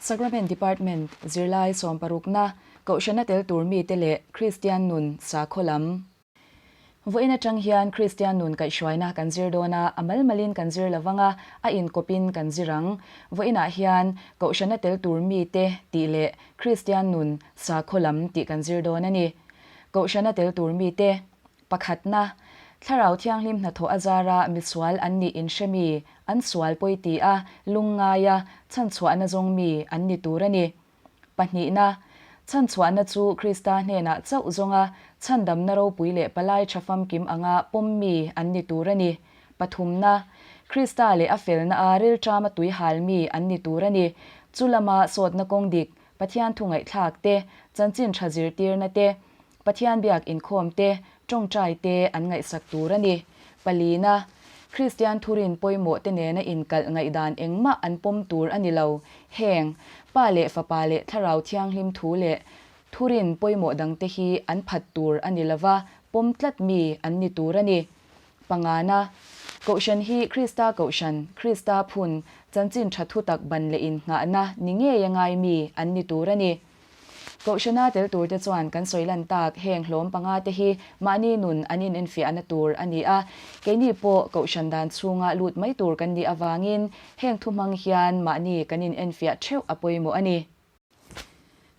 Sacrament Department, Zirlai sawm parukna, Kohhranna tel tur mite leh Kristian nun sakhaw lam. Vawiin atang hian Kristian nun kaihhruaina kan zir dawn a, a malmalin kan zir lovang a, a inkawpin kan zir ang. Vawiinah hian Kohhranna tel tur mite tih leh Kristian nun sakhaw lam tih kan zir dawn a ni. Kohhranna tel tur mite, Pakhatna, Thlarau Thianghlim hnathawh a zara misual an nih in hremi, an sual pawi ti a, lung ngai a, chhanchhuahna zawng mi an ni tur a ni. Pahnihna, Chhanchhuahna chu Krista hnenah chauh zawnga chhandamna ropui leh palai tha famkim anga pawm mi an ni tur a ni. Pathumna, Krista leh a felna a rilṭama tuihal mi an ni tur a ni. Chu lama sawtna kawng dik, Pathian thungaihthlak te, chanchin tha zirtirna te, Pathian biak inkhawm te, tawngtai te an ngaihsak tur a ni. Palina, Kristian thurin pawimawh te nena inkalh ngaihdan engmah an pawm tur a ni lo. Heng, Pa leh Fapa leh Thlarau Thianghlim thu leh thurin pawimawh dangte hi an phat tur a ni lova, pawm tlat mi an ni tur a ni. Pangana, Kohhran hi Krista Kohhran, Krista phun, chanchin tha thutak ban leh inhnghahna ni ngei a ngai mi an ni tur a ni. Kohhrana tel tur te chuan kan sawi lan tak heng hlawm panga te hi mahni nun an in enfiahna tur a ni a, keini pawh Kohhran dan chhunga lut mai tur kan nih avangin heng thu hmang hian mahni kan in enfiah theuh a pawimawh a ni.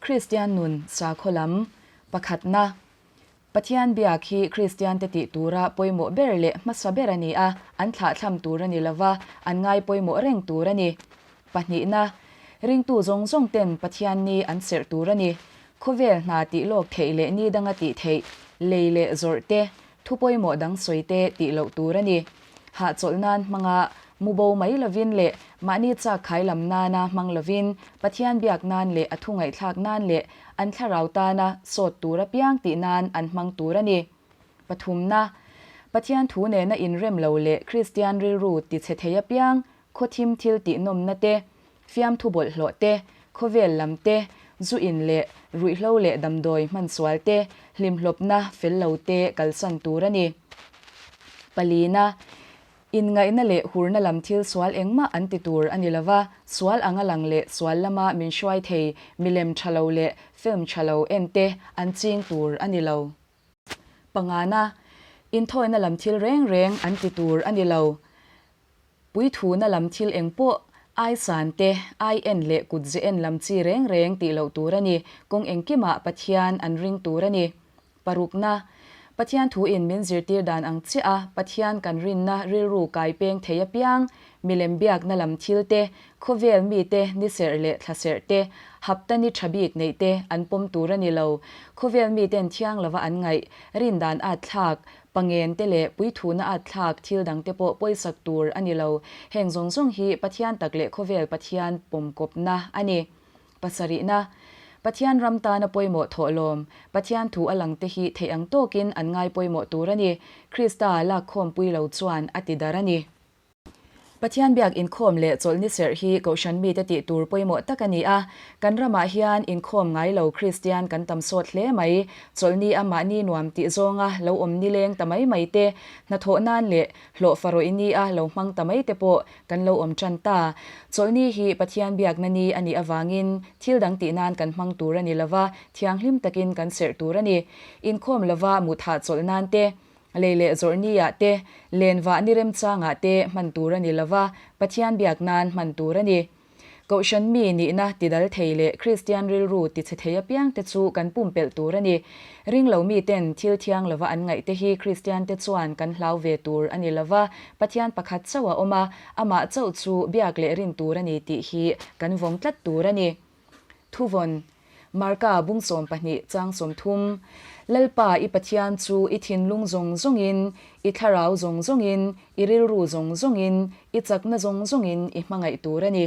Kristian nun sakhaw lam pakhatna. Pathian biak hi Kristiante tih tura pawimawh ber leh hmasa ber a ni a, an thlahthlam tur a ni lova, an ngai pawimawh reng tur a ni. Pahnihna, ringtu zawng zawng ten Pathian ni an serh tur a ni. Khawvel hna tih lawk theih leh ni danga tih theih, lei leh zawrh te, Thu pawimawh dang sawi te tih loh tur a ni. Hah chawlh nan hmanga mu bo mai lovin leh mahni chak khai lam nana hmang lovin Pathian biak nan leh a thu ngaihthlak nan leh an thlarau tana sawt tur apiang tih nan an hmang tur a ni. Pathumna, Pathian thu nena inrem lo leh Kristian rilru tichhe thei apiang Khawthim thil tihnawmna te, fiamthu bawlhhlawh te, khawvel lam te, zu in leh ruihhlo leh damdawi hmansual te, hlimhlawpna fel lo te kalsan tur a ni. Palina, inngaihna leh hurna lam thil sual engmah an ti tur a ni lo va, sual ang a lang leh sual lama min hruai thei milem tha lo leh film tha lo en te an ching tur a ni lo. Pangana, inthawina lam thil reng reng an ti tur a ni lo. Puithuna lam thil eng pawh ai san te, ai en leh kut ze en lam chi reng reng tih loh tur a ni. Kawng engkimah Pathian an ring tur a ni. Parukna, Pathian thuin min zirtir dan ang chiah a, Pathian kan rinna rilru kai peng thei apiang Milem biakna lam thil te, khawvel mi te ni serh leh thla serh te, hapta ni tha bik neih te an pawm tur a ni lo. Khawvel mi ten thiang lova an ngaih, rindan at thlak, pangen te leh puithuhna at thlak thil dang te pawh pawisak tur a ni lo. Heng zawng zawng hi Pathian tak leh khawvel Pathian pawmkawpna a ni. Pasarihna. Pathian ram tana pawimawh thawh lawm. Pathian thu a lang te hi theih ang tawkin an ngai pawimawh tur a ni. Krista lakkhawm pui lo chuan a tidar a ni. Pathian biak inkhawm leh chawlh ni serh hi kohhran mite tih tur pawimawh tak a ni a. Kan ramah hian inkhawm ngai lo Kristian kan tam sawt hle mai. Chawlh ni a mahni nuam tih zawnga lo awm ni leng ta mai mai te, hnathawh nan leh hlawhfa rawih ni a lo hmang ta mai te pawh kan lo awm tan ta. Chawlh ni hi Pathian biakna ni a nih avangin thil dang tih nan kan hmang tur a ni lova, thianghlim takin kan serh tur a ni. Inkhawm lova muthah chawlh nan te, Lei leh zawrh niah te, len vah ni rem changah te hman tur a ni lo va, Pathian biak nan hman tur a ni. Kohhran mi nihna, tidal thei leh Kristian rilru tichhe thei apiang te chu kan pumpelh tur a ni. Ring lo miten thil thiang lova an ngaih te hi Kristian te chuan kan hlau ve tur a ni lo va, Pathian pakhat chauh a awm a, amah chauh chu biak leh rin tur a ni tih hi kan vawng tlat tur a ni. Thuvawn, Marka bung sawm pahnih chang sawm thum, Lalpa i Pathian chu i thinlung zawng zawngin, i thlarau zawng zawngin, i rilru zawng zawngin, i chakna zawng zawngin i hmangaih tur a ni.